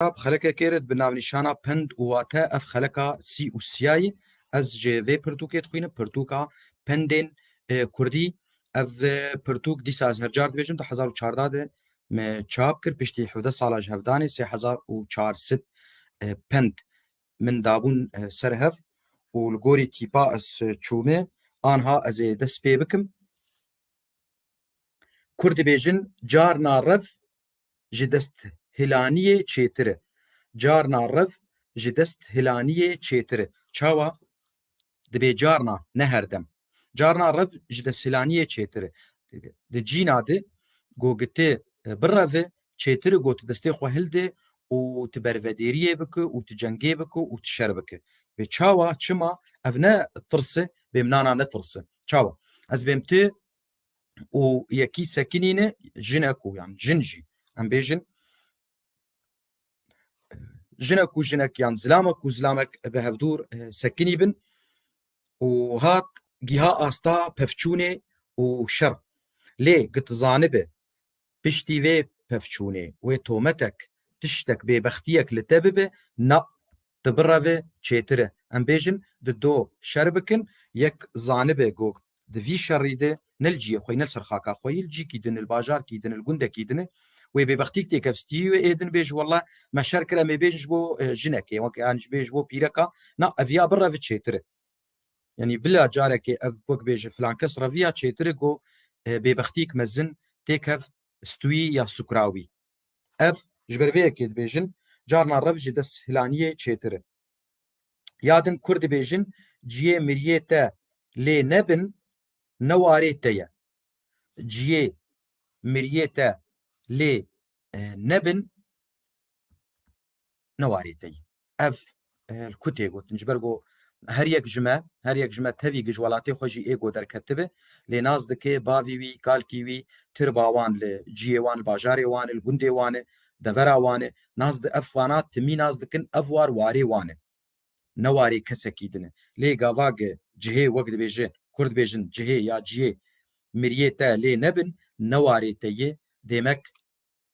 Xeleka bi xelekê kêrit bi navnîşana Pind û wate ev xeleka sî û siya ye. Ez ji vê pirtûkê dixwînim, pirtûka Pindên Kurdî. Ev pirtûk dîsa ez her car dibêjim di hezar û çarda de me çap kir, piştî hevdeh sala ji hevdanê sê hezar û çar sed pind min dabûn ser hev û li gorî tîpa ez çûme anha ez ê dest pê bikim. Kurd dibêjin carna rev ji desthilaniyê çêtir e. Carna rev ji desthilaniyê çêtir e. Çawa? Dibê carna ne herdem. Carna rev ji desthilaniyê çêtir e. Di cîna di gogitê bireve çêtir got destê xwe hilde û tu bervedêriyê bike û tu cengê bike û tu şer bike. Bê çawa, çima? Ev ne tirs e, bêm nana ne tirs e. Çawa? Ez bêm tu û yekî sekinîne jine ku yan jin jî em bêjin jine ku jinek yan zilama ku zilamek bi hevdûr sekinî bin û hat gîha asta pevçûnê û şer. Lê gitizanibe Piştî vê pevçûnê wê tometek, tiştek, bêbextiyek li te bibe, na, tu bireve çêtir e. Em bêjin di do şer bikin, yek zanibe ku di vî şerî de ne li ciyê xwe yî, ne li ser xaka xwe yî, li cîkî din e, li bajarkî din e, li gundekî din e, wê bêbextiyek têkevstî wê ê din bêje wele me şer kir, em ê bêjin ji bo jinekê, yanî bêjin ji bo pîreka, na, ev ya bireve çêtir e. Yanî bila carekê ev wek bêje filan kes reviya çêtir e ku bêbextîyek mezin tê kev stûyî ya sukrawî. Ev ji ber vê yekê dibêjin carna rev ji dest hilaniyê çêtir e. Ya din kurd dibêjin ciyê miriyê te lê nebin ne warê te ye. Ciyê miriyê te lê nebin ne warê te yî. Ev li ku tê gotin ji ber ku her yek ji me her yek ji me tevî gij welatê xwe jî ê ku derketibe lê nas dike bavî wî, kalkî wî, tirba wan li ciyê wan, li bajarê wan e, li gundê wan e, devera wan e. Nas di ev xwana timî nas dikin ev war warê wan e. Ne warê kesekî din e. Lê gava ge cihê wek dibêje Kurd dibêjin cihê ya ciyê miriyê te lê nebin ne warê te yê. Dêmek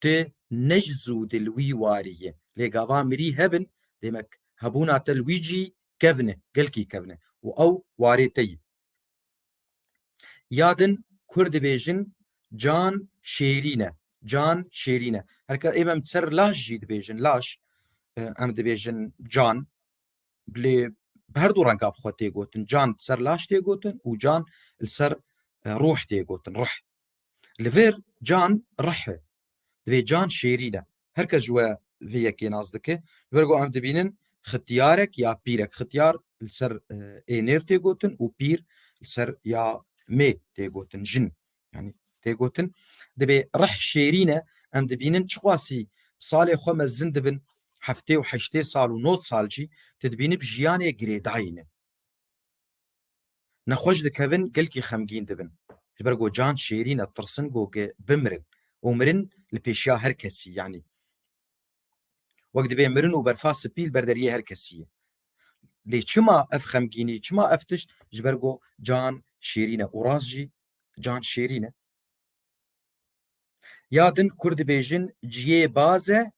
Tu ne ji zû di li wî warî yî. Lê gava mirî hebin, demek hebûna te li wî cî kevn e, gelkî kevn e û ew warê te yî. Ya din kurd dibêjin can şêrîn e, can şêrîn e. Her ke êm em ser laş jî dibêjin, laş em dibêjin can. Lê bi her du renga bi xwe tê gotin. Can li ser laş tê gotin û can li ser ruh tê gotin, ruh. Li vir can rih e. Divê can şêrîn e. Her kes ji we vê yekê nas dike. Li ber ku em dibînin xityarek ya pîrek. Xityar li ser ênêr tê gotin û pîr li ser ya mê tê gotin jin. Yani tê gotin divê rih şêrîn e em dibînin çixwasî salê xwe me zin dibin heftê û heştê sal û not sal jî tu dibînib jiyanê girêdayîn e. Nexweş dikevin gelkî xemgîn dibin. Li ber ku can şêrîn e tirsin ku bimirin û mirin li pêşiya her kesî yanî wek divê mirin û berfa spî li ber deriyê her kesî ye. Lê çima ev xemgînî, çima ev tişt ji ber ku can şêrîn e û rast jî can şêrîn e. Ya din Kurd dibêjin ciyê baz e,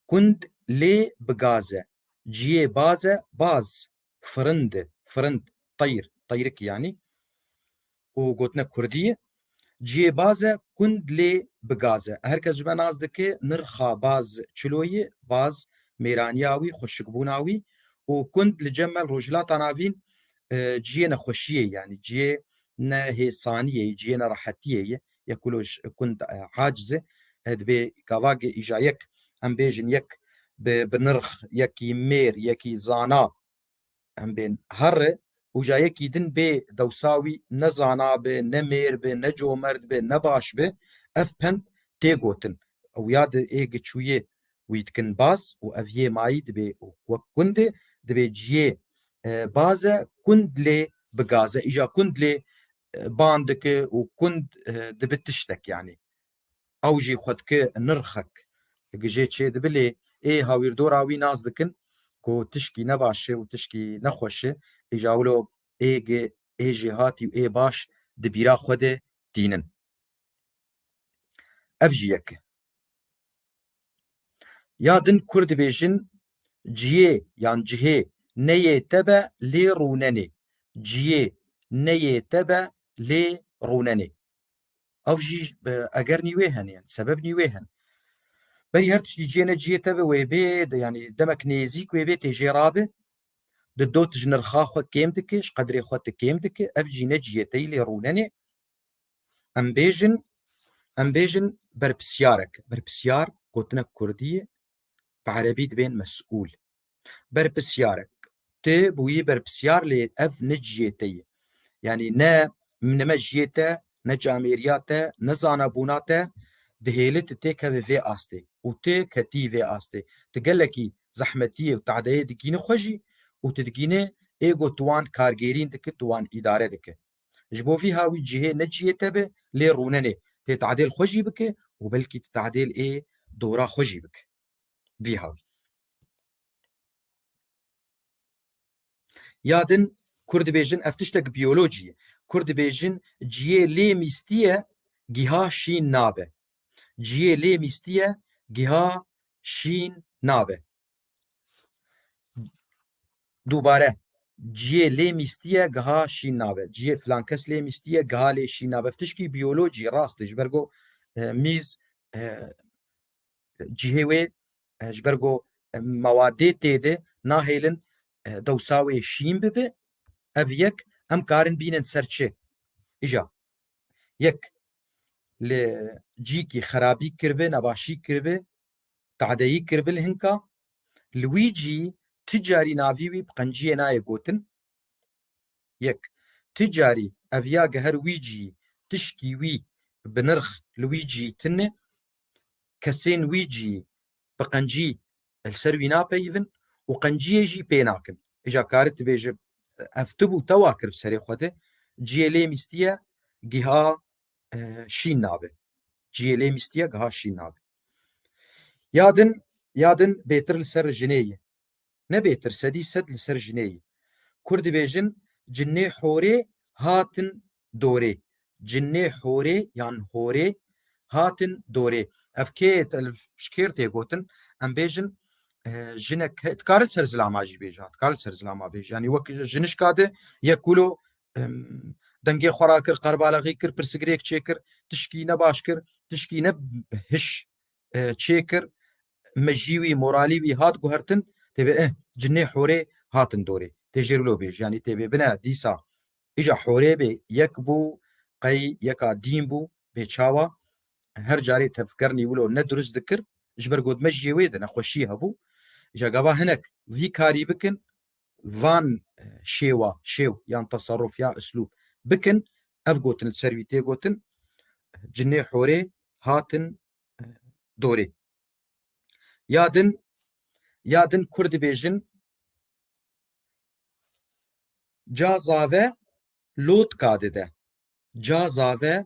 kund lê bi gaz e. Ciyê baz e, baz firind e, firind, teyr, teyrik yanî û gotina kurdî ye. Ciyê baz e, kund lê bi gaz e. Her kes ji me nas dike nirxa baz çilo ye, baz mêraniya wî, xweşikbûna wî û kund li cem me li Rojhilata Navîn ciyê nexweşiyê ye yanî ciyê ne hêsaniyê ye, ciyê ne rehetiyê ye. ya ku loj kund haciz e dibê gavagê îja yek em bêjin yek bi bi nirx yekî mêr yekî zana em bên herre û ja yekî din bê dewsa wî ne zana bi ne mêr bi ne comerd bi ne baş bi ev pend tê gotin ew ya di ê giçûyê wî dikin baz û ev yê mayî dibê û wek kundê dibê ciyê baze kund lê bigaze îja kund lê ban dike û kund dibi tiştek yanî ew jî xwe dike nirxek gijê çê dibi lê ê hawîrdora wî nas dikin ku tişkî ne baş e û tişkî ne xweş e îja wilo ê gi ê jêhatî û ê baş di bîra xwe de tînin. Ev jî yek e. Ya din kur dibêjin ciyê yan cihê neyê te be lê rûnenê. Ciyê neyê te be lê rûnenê. Ev jî eger nî wê hene yan sebeb nî wê hene. Berî her tiştî ciyê ne ciyê te be wê bê yanî demek nêzîk wê bê tê jê ra be di dot ji nirxa xwe kêm dike ji qedrê xwe ti kêm dike ev cî ne ciyê te yî lê rûnenê. Em bêjin em bêjin berpisyarek berpisyar gotinek kurdî bi erebî dibên mesûl berpisyarek tu bûyî berpisyar lê ev ne ciyê te ye yanî ne ne me jiyê te ne camêriya te ne zanabûna te dihêli tu têkevê vê astê û tu ketî vê astê tu gelekî zehmetiyê û tadeyê digînî xwe jî û tu digînê êgo tu wan kargêrîn dike tu wan îdare dike Ji bo vî ha wî cihê ne cihê te be lê rûne lê tê tadêl xwe jî bike û belkî ti tadêl ê dora xwe jî bike. Vî ha wî. Ya din Kurd dibêjin ev tiştek biyolojî ye. Kurd dibêjin cihê lê mîstiye giha şîn nabe. Cihê lê mîstiye giha şîn nabe. Dubare ciyê lê mîstiye giha şîn nabe. Ciyê filan kes lê mîstiye giha lê şîn nabe. Tişkî biyolojî rast ji ber ku e, mîz e, cihê wê e, ji ber ku mewadê tê de nahêlin dewsa wê şîn bibe ev yek em karin bînin ser çi îja yek li cîkî xerabî kiribe nebaşî kiribe Tadeyî kir bil hinka, Luîcî ti carî navî wî bi qenciyê nayê gotin. Yek, ti carî ev ya geher Wîcî tişkî wî bi nirx li wî cî tine. Kesên wî cî bi qencî li ser wî napeyivin û qenciyê jî pê nakin. Îja karî dibêje ev ti bû te wa kir bi serê xwe de, ciyê lê mîstiye giha şîn nabe. Ciyê lê mîstiye giha şîn nabe. Ya din ya din bêtir li ser jinê ye. Ne bêtir sedî sed li ser jinê ye. Kurd dibêjin cinê horê hatin dorê. Cinê horê yan horê hatin dorê. Ev kê şkêr tê gotin em bêjin jinek dikare ser zilama jî bêje dikare ser zilama bêje yanî wek jinişka de yek kulo dengê xwe ra kir qerbalaxî kir pirsgirêk çêkir tişkî ne baş kir tişkî ne hiş e, çêkir me jî wî moralî wî hat guhertin têbê e cinê horê hatin dorê tê jêrlo bêj yanî têbê bine dîsa îja horê bê yek bû qey yeka dîn bû bê çawa her carê tevker nîwilo ne durist dikir ji ber got me jiyê wê de nexweşî hebû îja gava hinek vî karî bikin van şêwa, şêw yan teserruf ya islûb bikin, ev gotin li ser wî tê gotin, Cinê horê hatin dorê. Ya din, ya din Kurd dibêjin ca zave lotka dide. Ca zave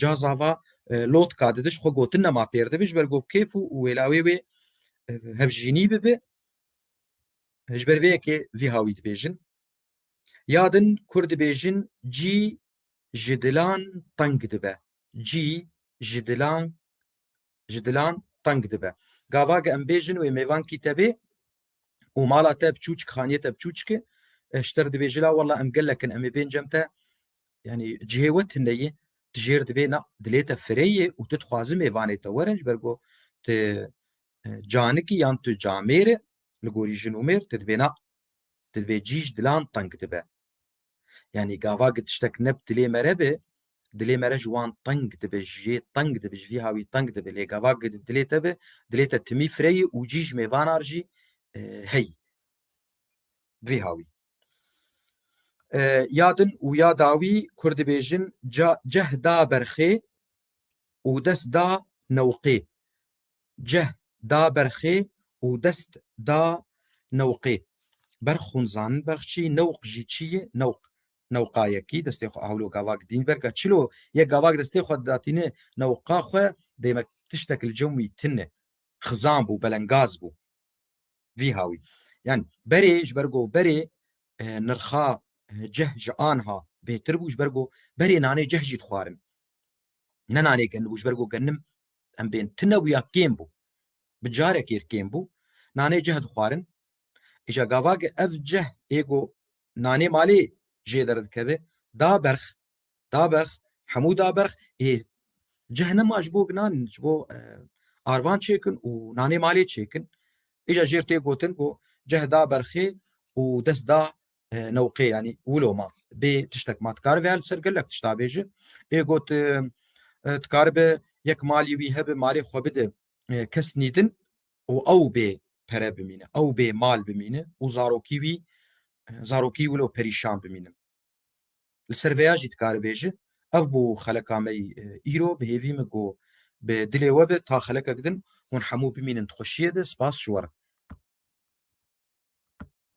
ca zava lotka didiş xwe gotin nema pêr dibi ji ber ku kêf û wêlawê wê hevjînî bibi ji ber vê yekê vî hawî dibêjin ya din kur dibêjin cî ji dilan teng dibe cî ji dilan ji dilan teng dibe gava ge em bêjin wê mêvankî te bê û mala te biçûçik xaniyê te biçûçik e ji te re dibêje la wela em gelek in em ê bên cem te yanî cihê we tineyê tu jêr dibê na dilê te fireyê û tu dixwazim mêvanê te werin ji ber ku tu canikî yan tu camêr e li gorî jin û mêr tu dibêna tu dibê cî ji dilan teng dibe Yani gava ki tiştek ne bi dilê me re be, dilê me re ji wan teng dibe, ji jê teng dibe, ji vîha wî teng dibe. Lê gava ki dilê te be, dilê te timî fireyê û cî ji mêvanar jî e, hey. Vîha wî. E, ya din û ya dawî Kurd dibêjin ceh da berxê û dest da newqê. Cih da ber xê û dest da newqê. Ber xunzan, berxçî, newq jî çî yê? Newq, newqa yekî destê xwe hewlo gavak dîn ver ga çilo yek gavak destê xwe didatîne newqa xwe demek tiştek li cem wî tine, xizan bû, belengaz bû. Vî hawî. Yan berê ji ber ku berê nirxa cih ji anha bêtir bû ji ber ku berê nanê cih jî dixwarin. Ne nanê genibû ji ber ku genim em bên tinewuya kêm bû bi carekê kêm bû nanê cih dixwarin îşa gavage ev cih ê ku nanê malê jê derdikeve da berx da berx hemû da berx ê cih nema ji bo nan ji bo e, arvan çêkin û nanê malê çêkin îşa jêr tê gotin ku cih da berxê û dest da newqê yanî wilo ma bê tiştek ma dikaribe ya li ser gelek tişt abêje ê got dikaribe yek malî wî hebe malê xwe bide kes nîdin û ew bê pere bimîne ew bê mal bimîne û zarokî wî zarokî wilo perîşan bimîne li ser veya jî dikaribêje ev bû xeleka me îro bi hêvî min ku bi dilê we bi ta xelekek din hûn hemû bimînin xweşiyê de spas ji we re.